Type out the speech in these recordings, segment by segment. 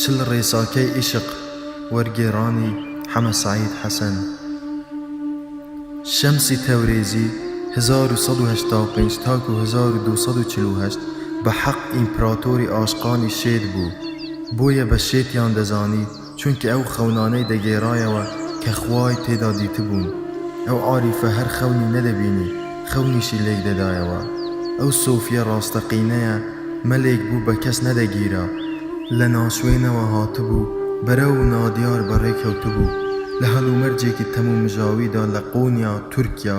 چل ڕێساکەی ئیشق وەرگێڕانی حەمە سەعید حەسەن شەمسی تەورێزی هەزار و سەد و هەشتا و پێنج تاکوو هەزار و دوو سەد و چل و هەشت بە حەق ئیمپراتۆری ئاشقانی شێت بوو بۆیە بە شێتیان دەزانی چونکە ئەو خەونانەی دەگێڕایەوە کە خوای تێدا دیتبوون، ئەو عاریفە هەر خەونی نەدەبینی، خەونیشی لێک دەدایەوە. ئەو سۆفییە ڕاستەقینەیە مەلێک بوو بە کەس نەدەگیرا. لە ناشوێنەوە هاتبوو، بەرەو نادیار بەڕێکەوتبوو، لە هەڵومەرجێکی تەمومژاویدا لە قۆنیا، تورکیا،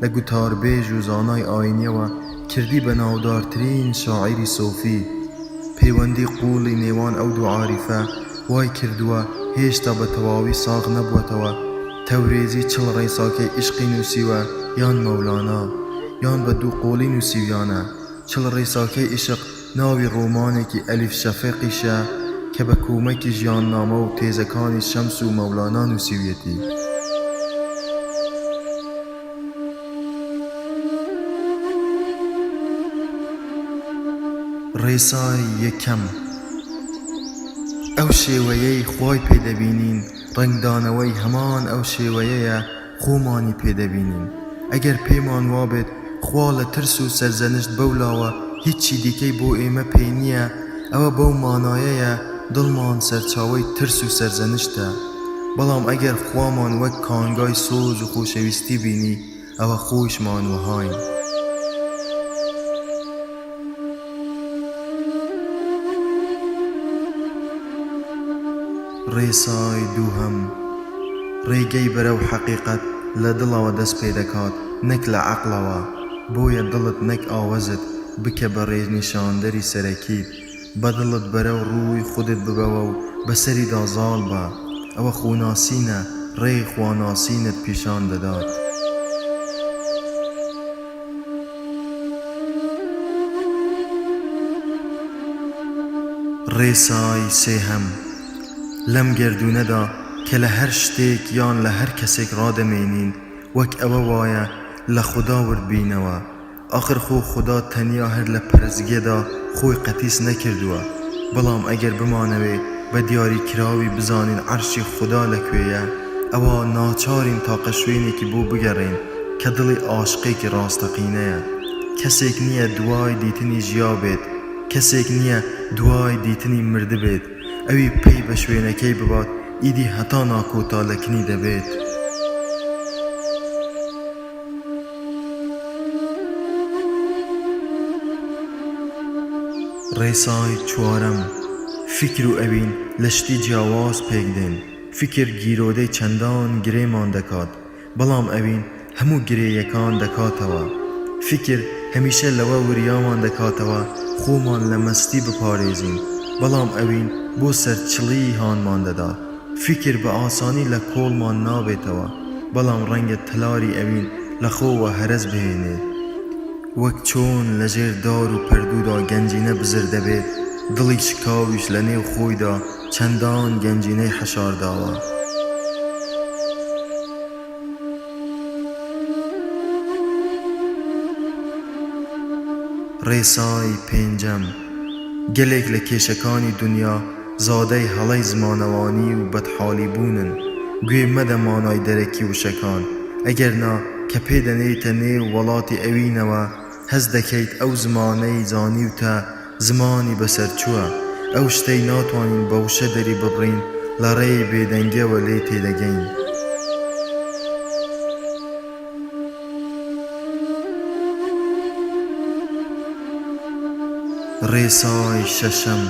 لە گوتاربێژ و زانای ئاینیەوە کردی بە ناودارترین شاعیری سۆفی. پەیوەندی قووڵی نێوان ئەو دوو عاریفە وای کردووە هێشتا بە تەواوی ساغ نەبووەتەوە، تەورێزی چڵ ڕێساکەی ئیشقی نووسیوە یان مەولانا، یان بە دوو قۆڵی نووسیویانە، چڵ ڕێساکەی ئیشق، ناوی ڕۆمانێکی ئەلیف شەفیقیشە کە بە کۆمەکی ژیاننامە و تێزەکانی شەمس و مەولانا نووسیویەتی. ڕێسای یەکەم، ئەو شێوەیەی خوای پێ دەبینین ڕەنگدانەوەی هەمان ئەو شێوەیەیە، خۆمانی پێ دەبینین ئەگەر پێمان وابێت خوا لە ترس و سەرزەنشت بەو لاوە هیچی دیکەی بۆ ئێمە پێ نییە ئەوە بەو مانایەیە دڵمان سەرچاوەی ترس و سەرزەنشتە بەڵام ئەگەر خوامان وەک کانگای سۆز و خۆشەویستی بینی ئەوە خۆیشمان وەهاین. ڕێسای دووهەم، ڕێگەی بەرەو حەقیقەت لە دڵەوە دەست پێ دەکات نەک لە عەقڵەوە، بۆیە دڵت نەک ئاوەزت بکە بە ڕێنیشاندەری سەرەکیت، بەدڵت بەرەو ڕووی خودت ببەوە و بەسەریدا زاڵ بە، ئەوە خۆناسینە، ڕێی خواناسینت پیشان دەدات. ڕێسای سێهەم، لەم گەردوونەدا کە لە هەر شتێک یان لە هەر کەسێک ڕادەمێنین، وەک ئەوە وایە لە خودا وردبینەوە، ئاخر خۆ خودا تەنیا هەر لە پەرستگەدا خۆی قەتیس نەکردووە، بەڵام ئەگەر بمانەوێ بە دیاری کراوی بزانین عەرشی خودا لە کوێیە، ئەوا ناچارین تاقە شوێنێکی بۆ بگەڕێین کە دڵی ئاشقێکی ڕاستەقینەیە. کەسێک نییە دوای دیتنی ژیابێت، کەسێک نییە دوای دیتنی مردبێت، ئەوی پەی بە شوێنەکەی ببات ئیدی هەتا ناکۆتا لە کنی دەبێت. ڕێسای چوارەم، فیکر و ئەوین لە شتی جیاواز پێک دێن، فیکر گیرۆدەی چەندان گرێمان دەکات، بەڵام ئەوین هەموو گرێیەکان دەکاتەوە. فیکر هەمیشە لەوە وریامان دەکاتەوە خۆمان لە مەستی بپارێزین، بەڵام ئەوین بۆ سەرچڵی هانمان دەدات. فیکر بە ئاسانی لە کۆڵمان نابێتەوە، بەڵام ڕەنگە تەلاری ئەوین لە خۆوە هەرەس بهێنێت. وەک چۆن لە ژێر دار و پەردوودا گەنجینە بزر دەبێت، دڵی شکاویش لە نێو خۆیدا چەندان گەنجینەی حەشار داوە. ڕێسای پێنجەم، گەلێک لە کێشەکانی دونیا، زادەی هەڵەی زمانەوانی و بەدحاڵی بوونن، گوێ مەدە مانای دەرەکی وشەکان، ئەگەر نا کە پێ دەنێیتە نێو وەڵاتی ئەوینەوە هەست دەکەیت ئەو زمانەی زانیوتە زمانی بەسەرچووە، ئەو شتەی ناتوانین بە وشە دەری ببڕین لە ڕێی بێدەنگیەوە لێی تێدەگەین. ڕێسای شەشەم،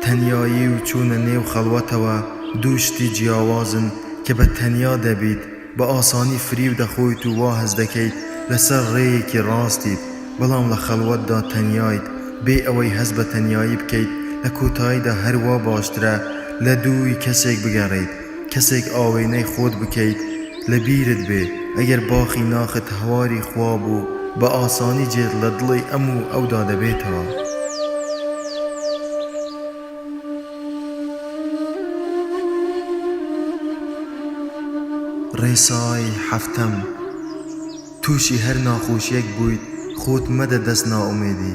تەنیایی و چوونە نێو خەڵوەتەوە دوو شتی جیاوازن کە بە تەنیا دەبیت بە ئاسانی فریو دەخۆیت و وا هەست دەکەیت لەسەر ڕێیەکی ڕاستیت بەڵام لە خەڵوەتدا تەنیایت بێ ئەوەی هەست بە تەنیایی بکەیت لە کۆتاییدا هەروا باشترە لە دووی کەسێک بگەڕێیت کەسێک ئاوێنەی خۆت بکەیت لە بیرت بێ، ئەگەر باخی ناخت هەواری خوا بوو، بە ئاسانی جێت لە دڵی ئەم و ئەودا دەبێتەوە. ڕێسای هەفتەم، تووشی هەر ناخۆشییەک بوویت، خۆت مەدە دەست نائومێدی.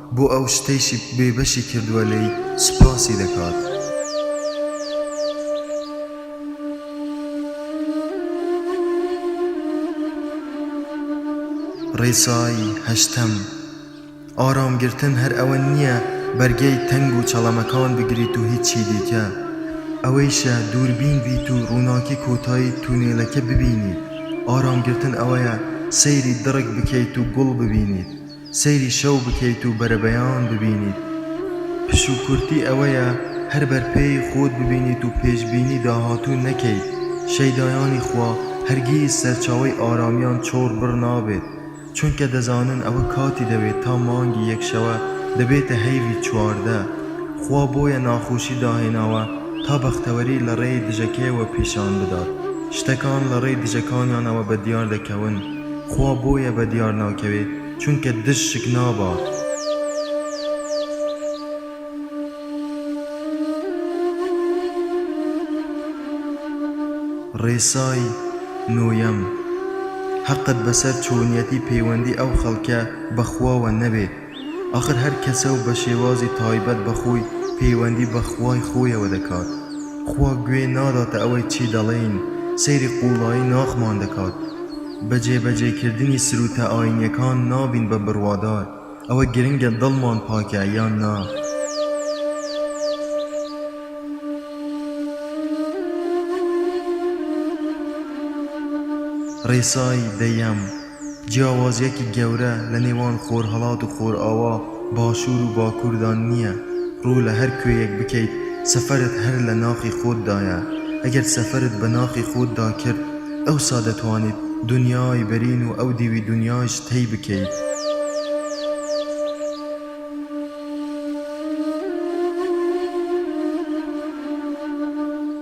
بۆ ئەو شتەیشی بێ بەشی کردوە لێی سوپاسی دەکات. ڕێسای هەشتەم، ئارام گرتن هەر ئەوە نیە بەرگەی تەنگ و چەڵەمەکان بگریت و هیچی دیکە، ئەوەیشە دووربین بیت و ڕووناکی کۆتایی تونێلەکە ببینیت، ئارام گرتن ئەوەیە سەیری دڕک بکەیت و گوڵ ببینیت، سەیری شەو بکەیت و بەرەبەیان ببینیت پشوو کورتی ئەوەیە هەر بەر پێی خۆت ببینیت و پێشبینی داهاتوو نەکەیت شەیدایانی خوا هەرگیز سەرچاوەی ئارامیان چۆڕ بڕ نابێت چونکە دەزانن ئەوە کاتی دەوێت تا مانگی یەک شەوە دەبێتە هەیڤی چواردە خوا بۆیە ناخۆشی داهێناوە تا بەختەوەری لەڕێی دژەکەیەوە پیشان بدات شتەکان لەڕێی دژەکانیانەوە بەدیار دەکەون. خوا بۆیە بە دیار ناکەوێ چونکە دژ شک نابا. ڕێسای نۆیەم، هەقت بەسەر چۆنیەتی پەیوەندی ئەو خەڵکە بە خواوە نەبێ. ئاخر هەر کەسە و بە شێوازی تایبەت بە خۆی پەیوەندی بە خوای خۆیەوە دەکات. خوا گوێ ناداتە ئەوەی چی دەڵێین، سەیری قووڵایی ناخمان دەکات. بە جێبەجێکردنی سرووتە ئایینییەکان نابین بە بڕوادار، ئەوە گرنگە دڵمان پاکە یان نا. ڕێسای دەیەم. جیاوازیەکی گەورە لە نێوان خۆرهەڵات و خۆرئاوا باشوور و باکووردا نییە، ڕوو لە هەر کوێیەک بکەیت سەفەرت هەر لە ناخی خۆتدایە، ئەگەر سەفەرت بە ناخی خۆتدا کرد ئەوسا دەتوانیت دونیای بەرین و ئەو دیوی دونیایش تەی بکەیت.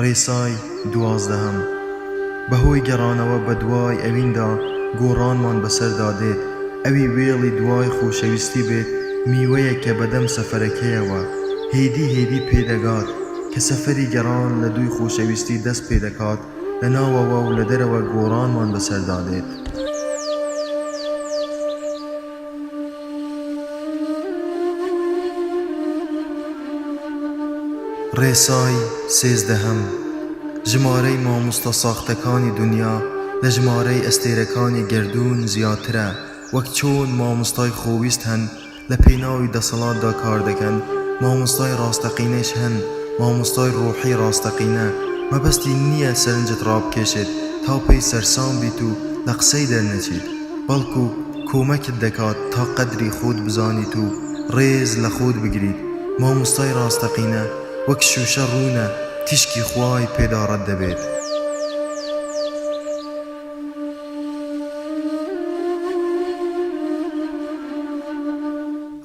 ڕێسای دوازدەهەم، بەهۆی گەڕانەوە بەدوای ئەویندا گۆڕانمان بەسەردا دێت، ئەوی وێڵی دوای خۆشەویستی بێت میوەیەکە بەدەم سەفەرەکەیەوە هێدی هێدی پێدەگات کە سەفەری گەڕان لە دووی خۆشەویستی دەست پێدەکات لە ناوەوە و لە دەرەوە گۆڕانمان بەسەردا دێت. ڕێسای سێزدەهەم، ژمارەی مامۆستا ساختەکانی دونیا لە ژمارەی ئەستێرەکانی گەردوون زیاترە، وەک چۆن مامۆستای خۆویست هەن لە پێناوی دەسەڵاتدا کار دەکەن، مامۆستای ڕاستەقینەیش هەن، مامۆستای ڕۆحی ڕاستەقینە مەبەستی نییە سەرنجت ڕابکێشێت تا پێی سەرسام بیت و لە قسەی دەرنەچیت، بەڵکو. کۆمەکت دەکات تا قەدری خۆت بزانیت و ڕێز لە خۆت بگریت مامۆستای ڕاستەقینە وەک شوشە ڕوونە تیشکی خوای پێدا ڕەت دەبێت.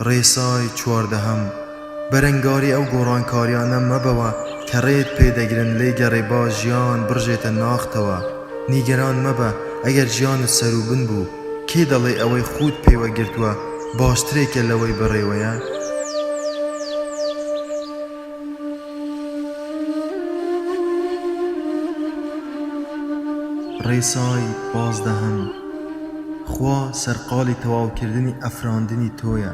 ڕێسای چواردەهەم. بەرەنگاری ئەو گۆڕانکاریانە مەبەوە کە رێت پێدەگرن لێ گەڕێ با ژیان بڕژێتە ناختەوە نیگەران مەبە ئەگەر ژیانت سەروبن بوو کێ دەڵێ ئەوەی خووت پێوە گرتوە باشترێکە لەوەی بەڕێوەیە؟ ڕێسای پازدەهەم، خوا سەرقاڵی تەواوکردنی ئەفراندنی تۆیە.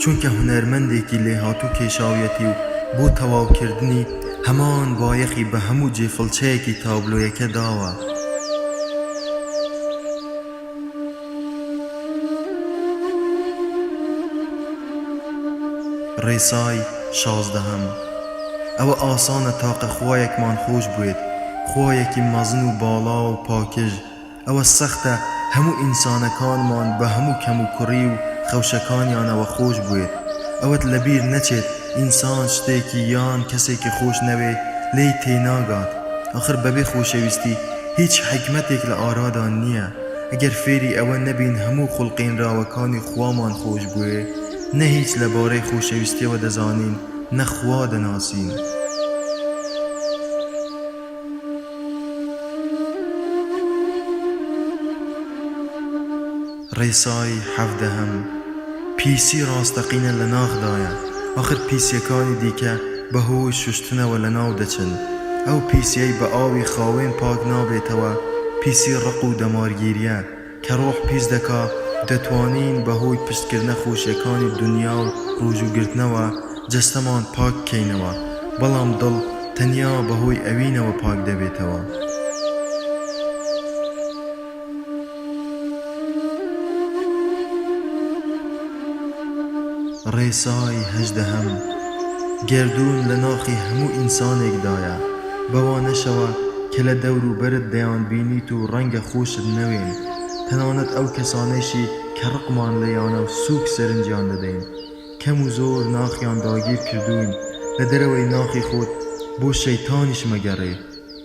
چونکە هونەرمەندێکی لێهاتوو کێشاویەتی و بۆ تەواوکردنی، هەمان بایەخی بە هەموو جێفڵچەیەکی تابلۆیەکە داوە. ڕێسای شازدەهەم، ئەوە ئاسانە تاقە خوایەکمان خۆش بوێت، خوایەکی مەزن و باڵا و پاکژ، ئەوە سەختە هەموو ئینسانەکانمان بە هەموو کەم و کوڕی و خەوشەکانیانەوە خۆش بوێت، ئەوەت لە بیر نەچێت ئینسان شتێکی یان کەسێکی خۆش نەوێ لێی تێناگات، ئاخر بەبێ خۆشەویستی هیچ حیکمەتێک لە ئارادا نییە، ئەگەر فێری ئەوە نەبین هەموو خوڵقێنراوەکانی خوامان خۆش بوێ، نە هیچ لە بارەی خۆشەویستیەوە دەزانین نە خوا دەناسین. ڕێسای حەڤدەهەم، پیسی ڕاستەقینە لە ناخدایە، ئاخر پیسیەکانی دیکە بە هۆی شوشتنەوە لە ناو دەچن، ئەو پیسیەی بە ئاوی خاوێن پاک نابێتەوە پیسی ڕق و دەمارگیریە، کە ڕۆح پیس دەکا، دەتوانین بە هۆی پشتکردنە خۆشیەکانی دونیا و ڕوجوو گرتنەوە جەستەمان پاک بکەینەوە، بەڵام دڵ تەنیا بە هۆی ئەوینەوە پاک دەبێتەوە. ڕێسای هەژدەهەم، گەردوون لە ناخی هەموو ئینسانێکدایە، بەوانەشەوە کە لە دەوروبەرت دەیانبینیت و ڕەنگە خۆشت نەوێن، تەنانەت ئەو کەسانەیشی کە ڕقمان لێیانە و سووک سەرنجیان دەدەین، کەم و زۆر ناخیان داگیرکردووین، لە دەرەوەی ناخی خۆت بۆ شەیتانیش مەگەڕێ.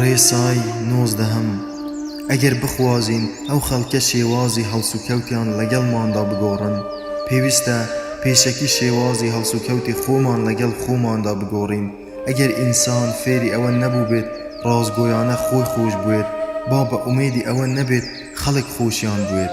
ڕێسای نۆزدەهەم، ئەگەر بخوازین ئەو خەڵکە شێوازی هەڵسوکەوتیان لەگەڵماندا بگۆڕن، پێویستە پێشەکی شێوازی هەڵسوکەوتی خۆمان لەگەڵ خۆماندا بگۆڕین. ئەگەر ئینسان فێری ئەوە نەبووبێت ڕاستگۆیانە خۆی خۆش بوێت، با بە ئومێدی ئەوە نەبێت خەڵک خۆشیان بوێت.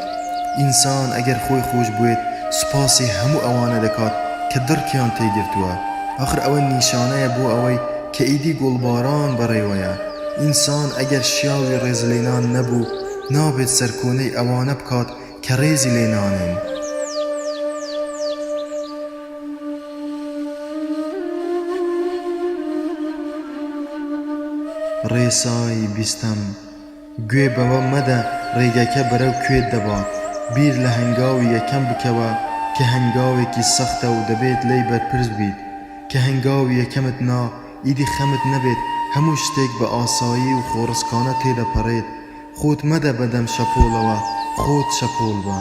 ئینسان ئەگەر خۆی خۆش بوێت، سوپاسی هەموو ئەوانە دەکات کە دڕکیان تێ گرتووە. ئاخر ئەوە نیشانەیە بۆ ئەوەی کە ئیدی گوڵباران بەڕێوەیە. ئینسان ئەگەر شیاوی ڕێزلێنان نەبوو، نابێت سەرکۆنەی ئەوانە بکات کە ڕێزی لێ نانێن. ڕێسای بیستەم، گوێ بەوە مەدە ڕێگەکە بەرەو کوێت دەبات، بیر لە هەنگاوی یەکەم بکەوە کە هەنگاوێکی سەختە و دەبێت لێی بەرپرس بیت، کە هەنگاوی یەکەمت نا ئیدی خەمت نەبێت هەموو شتێک بە ئاسایی و خۆڕسکانە تێدەپەڕێت، خۆت مەدە بە دەم شەپۆڵەوە خۆت شەپۆڵ بە.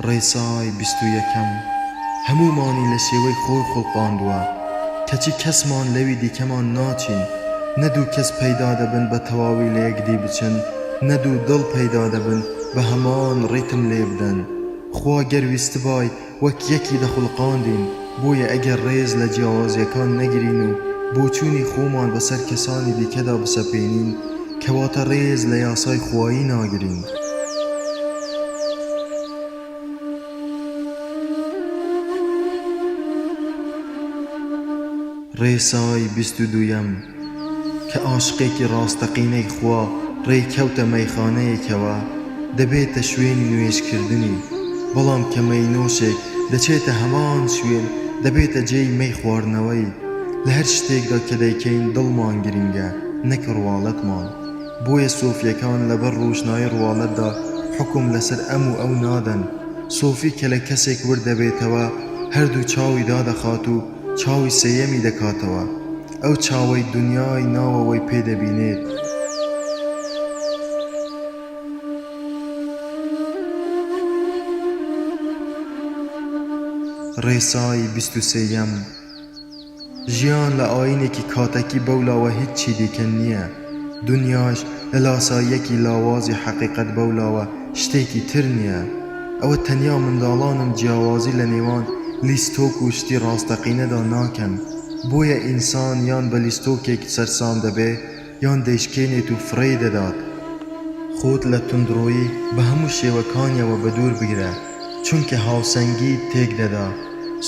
ڕێسای بیست و یەکەم، هەموومانی لە شێوەی خۆی خوڵقاندووە، کەچی کەسمان لەوی دیکەمان ناچین، نە دوو کەس پەیدا دەبن بە تەواوی لە یەکدی بچن، نە دوو دڵ پەیدا دەبن بە هەمان ڕیتم لێبدەن. خوا گەر ویستبای وەک یەکی دەخوڵقاندین، بۆیە ئەگەر ڕێز لە جیاوازیەکان نەگرین و بۆچوونی خۆمان بەسەر کەسانی دیکەدا بسەپێنین، کەواتە ڕێز لە یاسای خوایی ناگرین. ڕێسای بیست و دوویەم. کە عاشقێکی ڕاستەقینەی خوا ڕێی کەوتە مەیخانەیەکەوە دەبێتە شوێنی نوێژکردنی، بەڵام کە مەی نۆشێک دەچێتە هەمان شوێن دەبێتە جێی مەی خواردنەوەی، لە هەر شتێکدا کە دەیکەین دڵمان گرینگە نەک ڕواڵەتمان، بۆیە سۆفیەکان لەبەر ڕۆشنایی ڕواڵەتدا حوکم لەسەر ئەم و ئەو نادەن، سۆفی کە لە کەسێک ورد دەبێتەوە هەردوو چاوی دادەخات و چاوی سێیەمی دەکاتەوە، ئەو چاوەی دونیای ناوەوەی پێ دەبینێت. ڕێسای بیست و سێیەم، ژیان لە ئایینێکی کاتەکی بەو لاوە هیچی دیکە نییە. دونیاش لە لاساییەکی لاوازی حەقیقەت بەو لاوە شتێکی تر نییە. ئەوە تەنیا منداڵانن جیاوازی لە نێوان لیستۆک و شتی ڕاستەقینەدا ناکەن، بۆیە ئینسان یان بە لیستۆکێک سەرسام دەبێ یان دەیشکێنێت و فڕێی دەدات. خۆت لە توندڕۆیی بە هەموو شێوەکانیەوە بەدوور بگرە. چونکە هاوسەنگی تێک دەدا،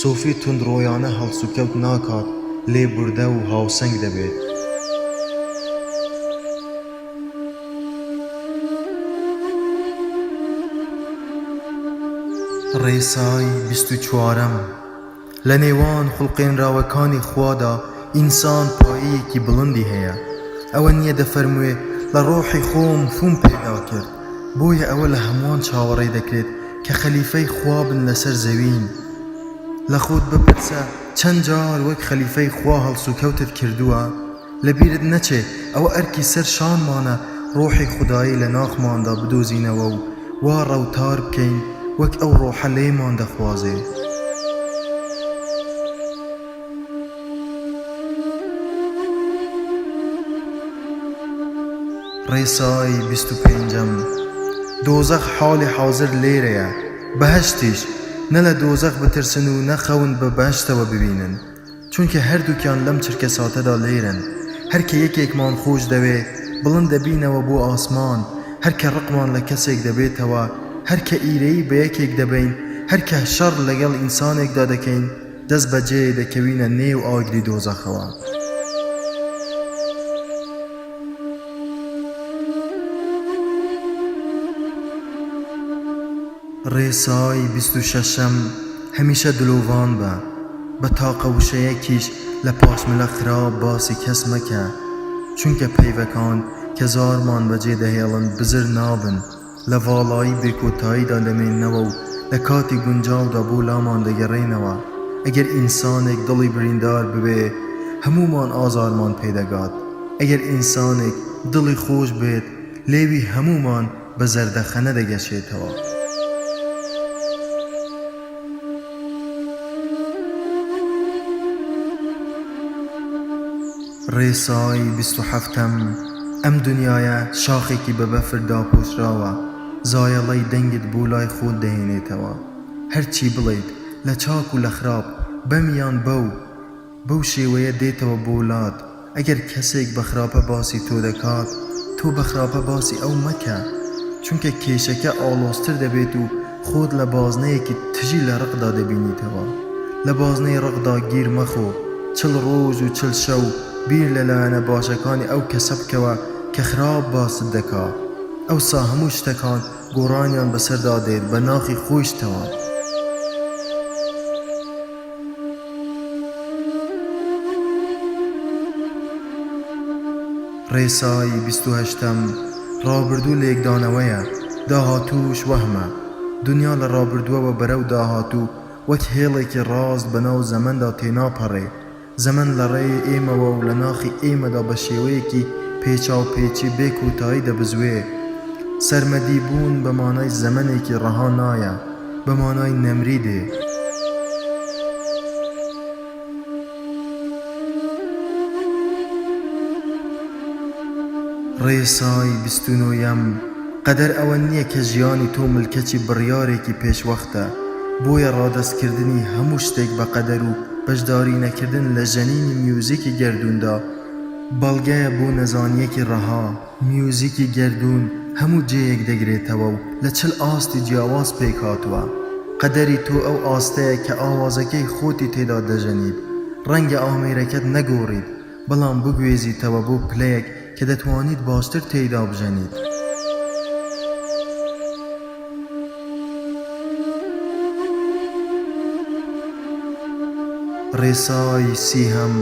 سۆفی توندڕۆیانە هەڵسوکەوت ناکات، لێبوردە و هاوسەنگ دەبێت. ڕێسای بیست و چوارەم. لە نێوان خوڵقێنراوەکانی خوادا ئینسان پایەیەکی بڵندی هەیە، ئەوە نییە دەفەرموێ لە ڕۆحی خۆم فووم پێدا کرد، بۆیە ئەوە لە هەمووان چاوەڕێ دەکرێت کە خەلیفەی خوا بن لەسەر زەوین. لە خۆت بپرسە چەند جار وەک خەلیفەی خوا هەڵسوکەوتت کردووە؟ لە بیرت نەچێ ئەوە ئەرکی سەر شانمانە ڕۆحی خودایی لە ناخماندا بدۆزینەوە و وا ڕەوتار بکەین وەک ئەو ڕۆحە لێمان دەخوازێ. ڕێسای بیست و پێنجەم، دۆزەخ حاڵی حازر لێرەیە، بەهەشتیش، نە لە دۆزەخ بترسن و نە خەون بە بەهەشتەوە ببینن. چونکە هەردووکیان لەم چرکەساتەدا لێرەن، هەر کە یەکێکمان خۆش دەوێ، بڵند دەبینەوە بۆ ئاسمان، هەر کە ڕقمان لە کەسێک دەبێتەوە، هەر کە ئیرەیی بە یەکێک دەبەین، هەر کە شەڕ لەگەڵ ئینسانێکدا دەکەین، دەست بەجێ دەکەوینە نێو ئاگری دۆزەخەوە. ڕێسای بیست و شەشەم هەمیشە دلۆڤان بە، بە تاقە وشەیەکیش لە پاشملە خراپ باسی کەس مەکە، چونکە پەیڤەکان کە زارمان بەجێ دەهێڵن بزر نابن، لە ڤاڵایی بێکۆتاییدا دەمێننەوە و لە کاتی گونجاودا بۆ لامان دەگەڕێنەوە، ئەگەر ئینسانێک دڵی بریندار ببێ هەموومان ئازارمان پێ دەگات، ئەگەر ئینسانێک دڵی خۆش بێت لێوی هەموومان بە زەردەخەنە دەگەشێتەوە. ڕێسای بیست و حەفتەم، ئەم دنیایە شاخێکی بە بەفر داپۆشراوە، زایەڵەی دەنگت بۆ لای خۆت دەهێنێتەوە، هەرچی بڵێیت، لە چاک و لە خراپ، بەم یان بەو، بەو شێوەیە دێتەوە بۆ لات، ئەگەر کەسێک بە خراپە باسی تۆ دەکات، تۆ بە خراپە باسی ئەو مەکە، چونکە کێشەکە ئاڵۆزتر دەبێت و خۆت لە بازنەیەکی تژی لە ڕقدا دەبینیتەوە. لە بازنەی ڕقدا گیر مەخۆ، چل ڕۆژ و چل شەو بیر لە لایەنە باشەکانی ئەو کەسە بکەوە کە خراپ باست دەکات، ئەوسا هەموو شتەکان گۆڕانیان بەسەردا دێت بە ناخی خۆیشتەوە. ڕێسای بیست و هەشتەم، ڕابردوو لێکدانەوەیە، داهاتووش وەهمە. دونیا لە ڕابردووەوە بەرەو داهاتوو وەک هێڵێکی ڕاست بەناو زەمەندا تێناپەڕێ، زەمەن لە ڕێی ئێمەوە و لە ناخی ئێمەدا بە شێوەیەکی پێچاوپێچی بێ کۆتایی دەبزوێ. سەرمەدیبوون بە مانای زەمەنێکی ڕەها نایە. بە مانای نەمری دێ. ڕێسای بیست و نۆیەم، قەدەر ئەوە نییە کە ژیانی تۆ ملکەچی بڕیارێکی پێشوەختە، بۆیە ڕادەستکردنی هەموو شتێک بە قەدەر و بەشدارینەکردن لە ژەنینی میوزیکی گەردووندا، بەڵگەیە بۆ نەزانییەکی ڕەها. میوزیکی گەردوون هەموو جێیەک دەگرێتەوە و لە چل ئاستی جیاواز پێکهاتووە. قەدەری تۆ ئەو ئاستەیە کە ئاوازەکەی خۆتی تێدا دەژەنیت. ڕەنگە ئامێرەکەت نەگۆڕیت، بەڵام بگوێزیتەوە بۆ پلەیەک کە دەتوانیت باشتر تێیدا بژەنیت. ڕێسای سێهەم،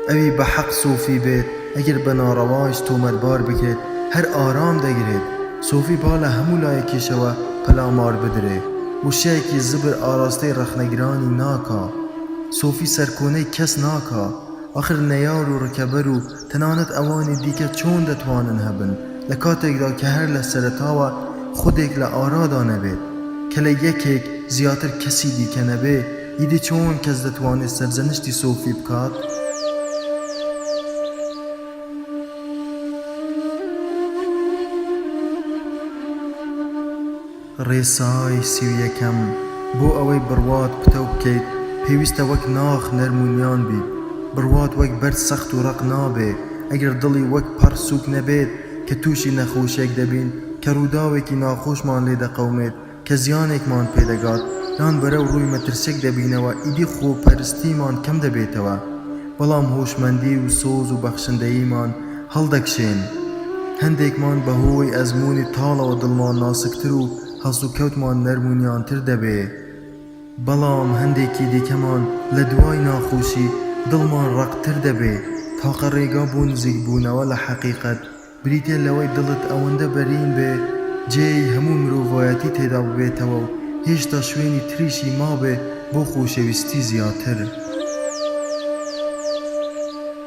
ئەوی بە حەق سۆفی بێت ئەگەر بە ناڕەوایش تۆمەتبار بکرێت هەر ئارام دەگرێت، سۆفی با لە هەموو لایەکیشەوە پەلامار بدرێ، وشەیەکی زبر ئاراستەی ڕەخنەگرانی ناکا، سۆفی سەرکۆنەی کەس ناکا، ئاخر نەیار و ڕکەبەر و تەنانەت ئەوانی دیکە چۆن دەتوانن هەبن لە کاتێکدا کە هەر لە سەرەتاوە خودێک لە ئارادا نەبێت؟ کە لە یەکێک زیاتر کەسی دیکە نەبێ، ئیدی چۆن کەس دەتوانێت سەرزەنشتی سۆفی بکات؟ ڕێسای سی و یەکەم، بۆ ئەوەی بڕوات پتەو بکەیت پێویستە وەک ناخ نەرم و نیان بیت، بڕوات وەک بەرد سەخت و ڕەق نابێ، ئەگەر دڵی وەک پەڕ سووک نەبێت کە تووشی نەخۆشیەک دەبین کە ڕووداوێکی ناخۆشمان لێ دەقەومێت کە زیانێکمان پێ دەگات یان بەرەو ڕووی مەترسیەک دەبینەوە ئیدی خۆپەرستیمان کەم دەبێتەوە بەڵام هۆشمەندی و سۆز و بەخشندەییمان هەڵدەکشێین، هەندێکمان بە هۆی ئەزموونی تاڵەوە دڵمان ناسکتر و هەڵسوکەوتمان نەرمونیانتر دەبێ، بەڵام هەندێکی دیکەمان لە دوای ناخۆشی دڵمان ڕەقتر دەبێ، تاقە ڕێگا بۆ نزیکبوونەوە لە حەقیقەت بریتیە لەوەی دڵت ئەوەندە بەرین بێ جێی هەموو مرۆڤایەتی تێدا ببێتەوە و هێشتا شوێنی تریشی مابێ بۆ خۆشەویستی زیاتر.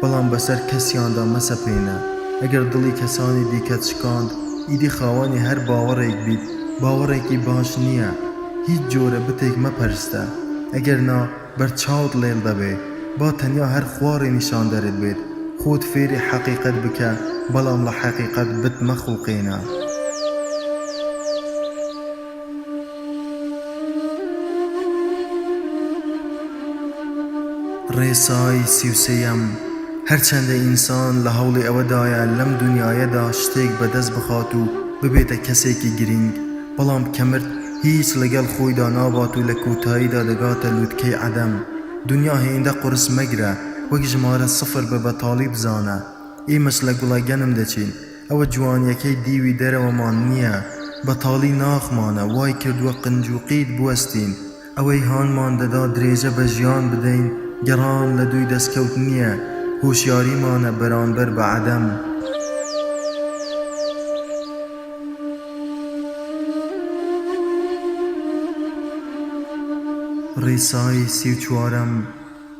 بەڵام بەسەر کەسیاندا مەسەپێنە، ئەگەر دڵی کەسانی دیکەت شکاند، ئیدی خاوەنی هەر باوەڕێک بیت، باوەڕێکی باش نییە، هیچ جۆرە بتێک مەپەرستە، ئەگەر نا بەرچاوت ڵێڵ دەبێ، با تەنیا هەر خوا ڕێنیشاندەرت بێت، خۆت فێری حەقیقەت بکە، بەڵام لە حەقیقەت بت مەخوڵقێنە. ڕێسای سی و سێیەم، هەرچەندە ئینسان لە هەوڵی ئەوەدایە لەم دونیایەدا شتێک بەدەست بخات و ببێتە کەسێکی گرینگ، بەڵام کە مرد هیچ لەگەڵ خۆیدا نابات و لە کۆتاییدا دەگاتە لوتکەی عەدەم. دونیا هێندە قورس مەگرە، وەک ژمارە سفر بە بەتاڵی بزانە. ئێمەش لە گوڵەگەنم دەچین، ئەوە جوانیەکەی دیوی دەرەوەمان نیە بەتاڵی ناخمانە وای کردوە قنج و قیت بوەستین ئەوەی هانمان دەدا درێژە بە ژیان بدەین گەڕان لە دووی دەسکەوت نیە هوشیاریمانە بەرانبەر بە عەدەم. ڕیسای سی و چوارەم.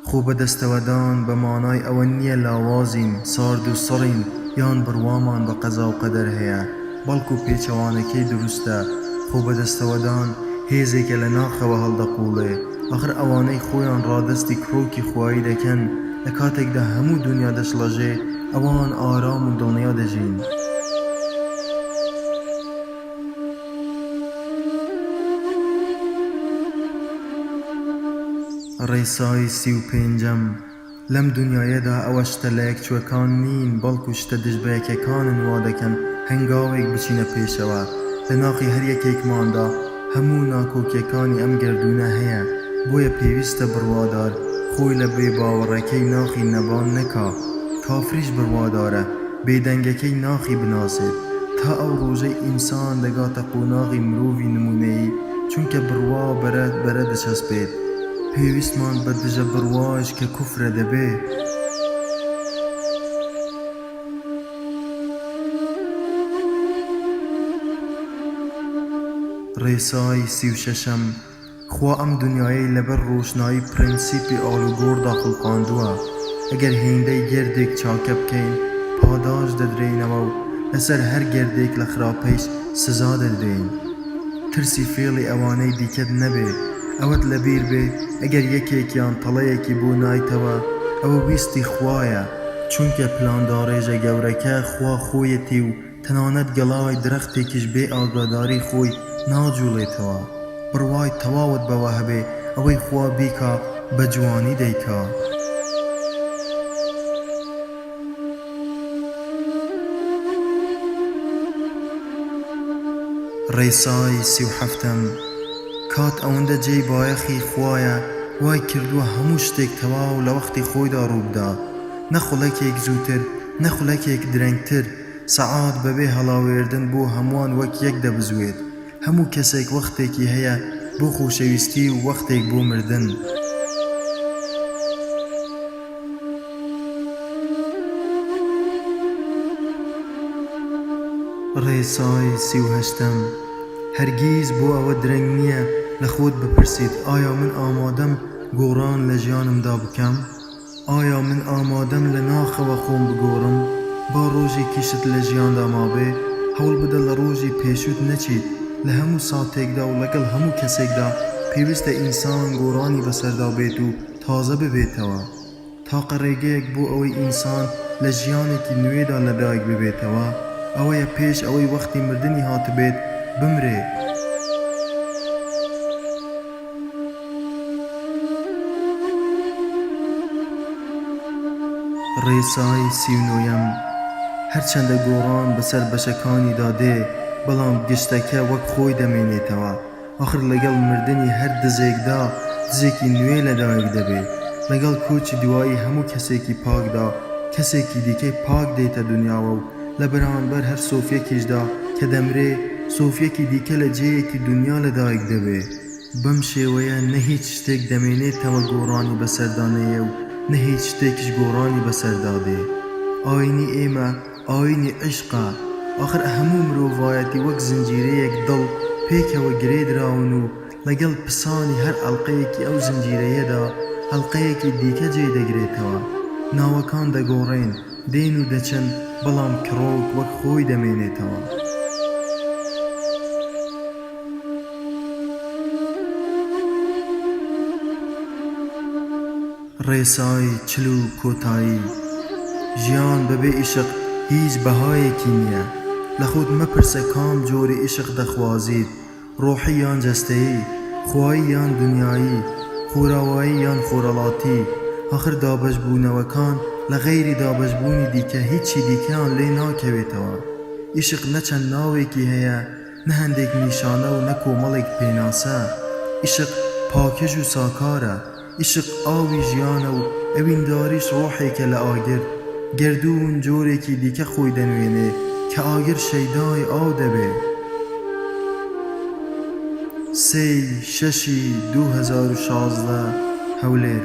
خۆ بە دەستەوەدان بە مانای ئەوە نییە لاوازین، سارد و سڕین، یان بڕوامان بە قەزا و قەدەر هەیە، بەڵکو پێچەوانەکەی دروستە، خۆ بە دەستەوەدان هێزێکە لە ناخەوە هەڵدەقوڵێ، ئاخر ئەوانەی خۆیان ڕادەستی کڕۆکی خوایی دەکەن، لە کاتێکدا هەموو دونیا دەشڵەژێ، ئەوان ئارام و دڵنیا دەژین. ڕیسای سی و پێنجەم، لەم دونیایەدا ئەوە شتە لەیەکچوەکان نین بەڵکو شتە دژبەیەکەکانن وادەکەن هەنگاوێک بچینە پێشەوە، لەناخی هەریەکێکماندا هەموو ناکۆکیەکانی ئەم گەردوونە هەیە، بۆیە پێویستە بڕوادار خۆی لە بێ باوەڕەکەی ناخی نەبان نەکا، کافریش بڕوادارە بێ دەنگەکەی ناخی بناسێت، تا ئەو ڕۆژەی ئینسان دەگاتە قۆناغی مرۆڤی نمونەیی، چونکە بڕوا بەرە بەرە دەچەسپێت پێویستمان بە دژە بڕوایش کە کوفرە دەبێ. ڕێسای سی و شەشەم، خوا ئەم دونیایەی لەبەر ڕۆشنایی پرەنسیپی ئاڵوگۆڕدا خوڵقاندووە، ئەگەر هێندەی گردێک چاکە بکەین پاداشت دەدرێینەوە و لەسەر هەر گردێک لە خراپەیش سزا دەدرێین، ترسی فێڵی ئەوانەی دیکەت نەبێ، ئەوەت لەبیر بێ ئەگەر یەکێکیان تەڵەیەکی بۆ نایتەوە ئەوە ویستی خوایە، چونکە پلانداڕێژە گەورەکە خوا خۆیەتی و تەنانەت گەڵای درەختێکیش بێ ئاگاداری خۆی ناجوڵێتەوە، بڕوای تەواوت بەوە هەبێ ئەوەی خوا بیکا بە جوانی دەیکا. ڕێسای سی و حەفتەم، کات ئەوەندە جێی بایەخی خوایە وای کردووە هەموو شتێک تەواو لە وەختی خۆیدا ڕووبدا، نە خولەکێک زووتر، نە خولەکێک درەنگتر، سەعات بەبێ هەڵاوێردن بۆ هەمووان وەک یەک دەبزوێت، هەموو کەسێک وەختێکی هەیە بۆ خۆشەویستی و وەختێک بۆ مردن. ڕێسای سی و هەشتەم، هەرگیز بۆ ئەوە درەنگ نییە لە خۆت بپرسیت ئایا من ئامادەم گۆڕان لە ژیانمدا بکەم؟ ئایا من ئامادەم لە ناخەوە خۆم بگۆڕم؟ با ڕۆژێکیشت لە ژیاندا مابێ، هەوڵبدە لە ڕۆژی پێشووت نەچیت، لە هەموو ساتێکدا و لەگەڵ هەموو کەسێکدا پێویستە ئینسان گۆڕانی بەسەردا بێت و تازە ببێتەوە. تاقە ڕێگەیەک بۆ ئەوەی ئینسان لە ژیانێکی نوێدا لەدایک ببێتەوە ئەوەیە پێش ئەوەی وەختی مردنی هاتبێت بمرێ. ڕێسای سی و نۆیەم، هەرچەندە گۆڕان بەسەر بەشەکانیدا دێ، بەڵام گشتەکە وەک خۆی دەمێنێتەوە، ئاخر لەگەڵ مردنی هەر دزێکدا دزێکی نوێ لەدایک دەبێت، لەگەڵ کۆچی دوایی هەموو کەسێکی پاکدا کەسێکی دیکەی پاک دێتە دونیاوە و لە بەرانبەر هەر سۆفیەکیشدا کە دەمرێ، سۆفیەکی دیکە لە جێیەکی دونیا لە دایک دەبێ. بەم شێوەیە نە هیچ شتێک دەمێنێتەوە گۆڕانی بەسەردا نەیە و نە هیچ شتێکیش گۆڕانی بەسەردا دێ. ئایینی ئێمە ئایینی عیشقە. ئاخر هەموو مرۆڤایەتی وەک زنجیرەیەک دڵ پێکەوە گرێدراون و لەگەڵ پسانی هەر ئەڵقەیەکی ئەو زنجیرەیەدا ئەڵقەیەکی دیکە جێی دەگرێتەوە. ناوەکان دەگۆڕێن، دێن و دەچن، بەڵام کڕۆک وەک خۆی دەمێنێتەوە. ڕێسای چل و کۆتایی ژیان بەبێ ئیشق هیچ بەهایەکی نییە. لە خۆت مەپرسە کام جۆری ئیشق دەخوازیت؟ ڕۆحی یان جەستەیی، خوایی یان دونیایی، خۆراوایی یان خۆرەڵاتی، ئاخر دابەشبوونەوەکان لە غەیری دابەشبوونی دیکە هیچی دیکەیان لێ ناکەوێتەوە. ئیشق نە چەند ناوێکی هەیە، نە هەندێک نیشانە و نە کۆمەڵێک پێناسە. ئیشق پاکژ و ساکارە. ئیشق ئاوی ژیانە و ئەوینداریش ڕۆحێکە لە ئاگر، گەردوون جۆرێکی دیکە خۆی دەنوێنێ کە ئاگر شەیدای ئاو دەبێ. سێ ی شەش ی دوو هەزار و شازدە هەولێر.